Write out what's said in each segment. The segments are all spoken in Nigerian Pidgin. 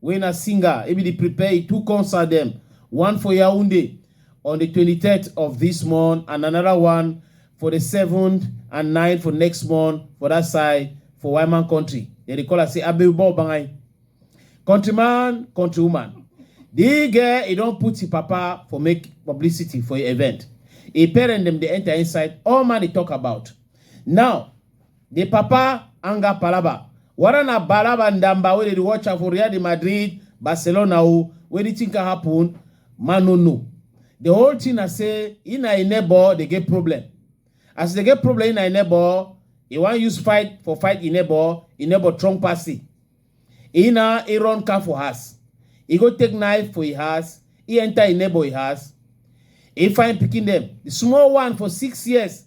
wey na singer e bin dey prepare e two concert dem, one for Yaounde on di twenty third of dis month and anoda one for di seven and nine for next month for dat side for Wyman country. Dem dey call am say Abewuba Obangai. Countryman, countrywoman, di girl e don put e papa for make publicity for e event. E parent dem dey enta inside, all man dey tok about. Now, Di papa anger palaba. Wada na Balaba Ndamba wey dey dey watch am for Real de Madrid, Barcelona o, wey di tin can happen, man no know. Di whole tin na say im na im neighbour dey get problem. As e dey get problem im na im neighbour, e wan use fight for fight im neighbour, im neighbour trong pass im. Im na im run car for house, e go take knife for im house, im enter im neighbour im house, im find pikin dem, di small one for six years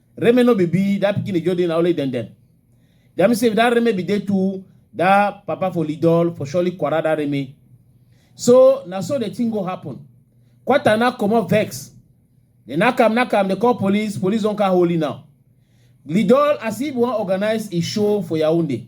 Reme no be be that pikin dey just dey na only dem dem. That means say if that Reme be dey too, that papa for Lidol for surely quarrel that Reme. So na so the thing go happen. Quarter now comot vex. They knock am, knock am, they call police, police don come holy now. Lidol as if wan organize a show for Yaoundé.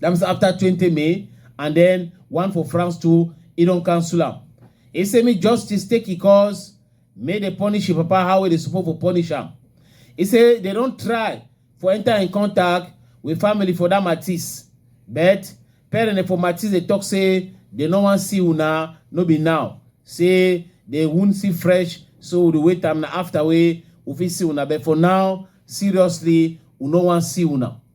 That means after 20 May, and then one for France too, he don't cancel am. He say me justice take his cause, may they punish him papa how they supposed to punish him. He say they don't try for enter in contact with family for that Matisse. But parents for Matisse they talk say they no wan see una, no be now. Say they won't see fresh, so we dey wait am na after we we fit see una. But for now, seriously, we no wan see una.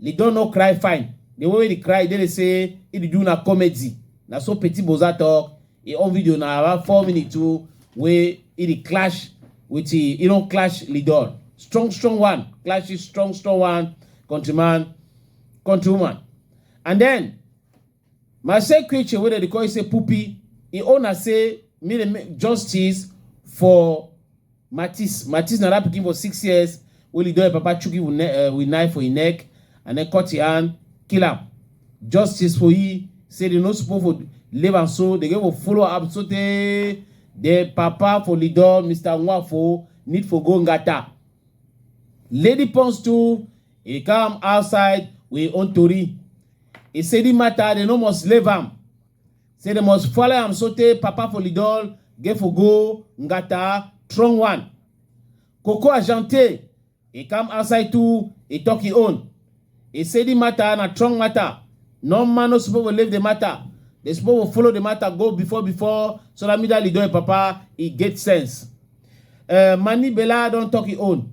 Lidon no cry fine, the way wey the cry dey dey say he dey do na comedy, na so Petit Boza talk, he own video na around four minutes too wey he dey clash with he, he don clash Lidon, strong strong one clash his strong strong one countryman, countrywoman and then. My same creature wey dem dey call you say Pupi, im own na say me dey make justice for Matis. Matis na that pikin for six years wey Lido im papa chook him with ne- eh, with knife for him neck and then cut him hand, kill am. Justice for he say they no suppose for leave am so, they go for follow am sotey the papa for Lido, Mr. Nwafo, need for go ngata. Lady Pons too, he come outside with him own tori. He say the matter they no must leave am. Say they must follow am so tey Papa Folidol, Gefogo, Ngata, Strong One. Coco Agente, he come outside too, he talk his own. He say the matter na strong matter. No man no supposed to leave the matter. They supposed to follow the matter go before before so that me that leader papa he get sense. Uh, Mani Bella don talk his own.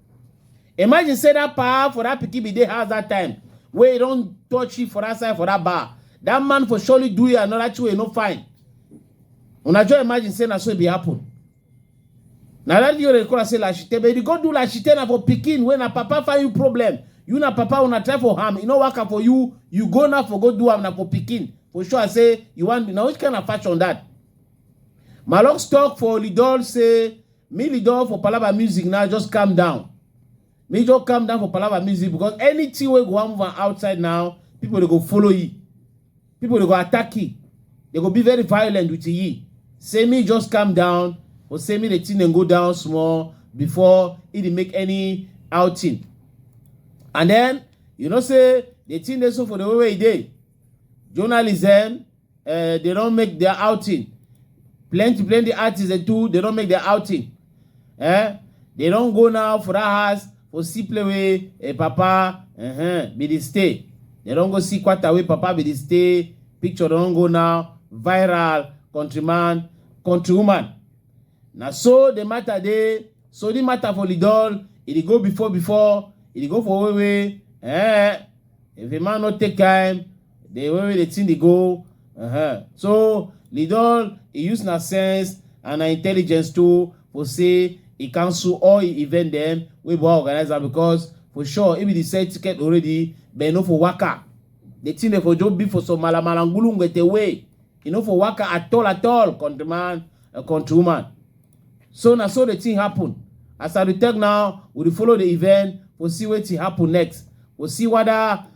Imagine say that power for that pikin be dey house that time wey e don touch you for that side for that bar. That man for surely do you another thing wey e no fine. Una just imagine say na so e be happen. Na that video dey call am say lashite but if you go do lashite na for pikin wey na papa find you problem. You na papa una try for am e no work am for you you go now for go do am na for pikin for sure say you wan do na which kind of fashion that. Malox talk for Olidol say Me Lidor for Palava Music now just calm down. Me just calm down for Palava Music because anything wey go wan move am outside now, people dey go follow you. People dey go attack you. They go be very violent with you. Say me just calm down or say me the thing dem go down small before e dey make any outing. And then you know say the thing dey so for the way wey e dey. Journalism Uh, they don't make their outing. Plenty, plenty artists they too, they don't make their outing. Eh? They don't go now for that house for see play with eh, papa, uh-huh, be the stay. They don't go see quarter way papa be the stay. Picture don't go now. Viral, countryman, countrywoman. Now so the matter they, so the matter for Lidol, it go before before, it go for way way. Eh? If a man not take time, the way the thing they go uh-huh. so lidol he use na sense and na intelligence too for say he cancel all the event them we go organize am because for sure if he sell ticket already but no for waka the thing they for job be for some malamalangulu ngete way you know for waka at all at all countryman uh, countrywoman so na so the thing happen as i dey talk now we dey follow the event we see wetin happen next we see whether